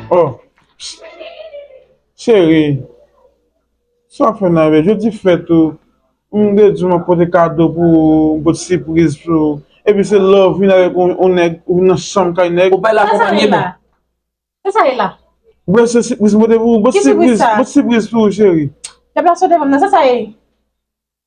Oh, chérie, sa fè nan vè, jodi fèt ou, m de di mwen pote kado pou ou, m pote sipriz pou ou, epi se lè ou vin avèk yon nèg, ou vin nan chanm kay nèg. Ou pa la konpanye m? Kisa sa ye la? Mwen se sipriz m pote pou ou, m pote sipriz pou ou chérie. Deplase w devan m nan, sa sa ye?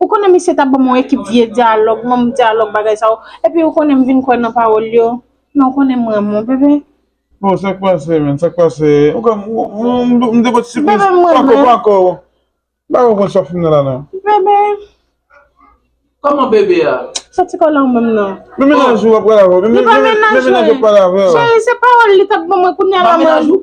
Ou konnen misye ta banm yon ekip vye dyalòg, manm dyalòg bagay sa yo, epi ou konnen m vin kwè nan pawòl yo, men ou konnen m renmen w bebe. Bon sak pase menn, sak pase, ou kwè m te pot sipriz, pako, pako, m pa kwè w konn sa w fin nan la nan. Bebe. Kòman bebe a? Sa ti kòlè w menm nan. Men mennaj ou ap pale avè w, men mennaj ou ap pale avè w. Cheri se pawòl li tap ban mwen kounya la mwen. Menaj ou?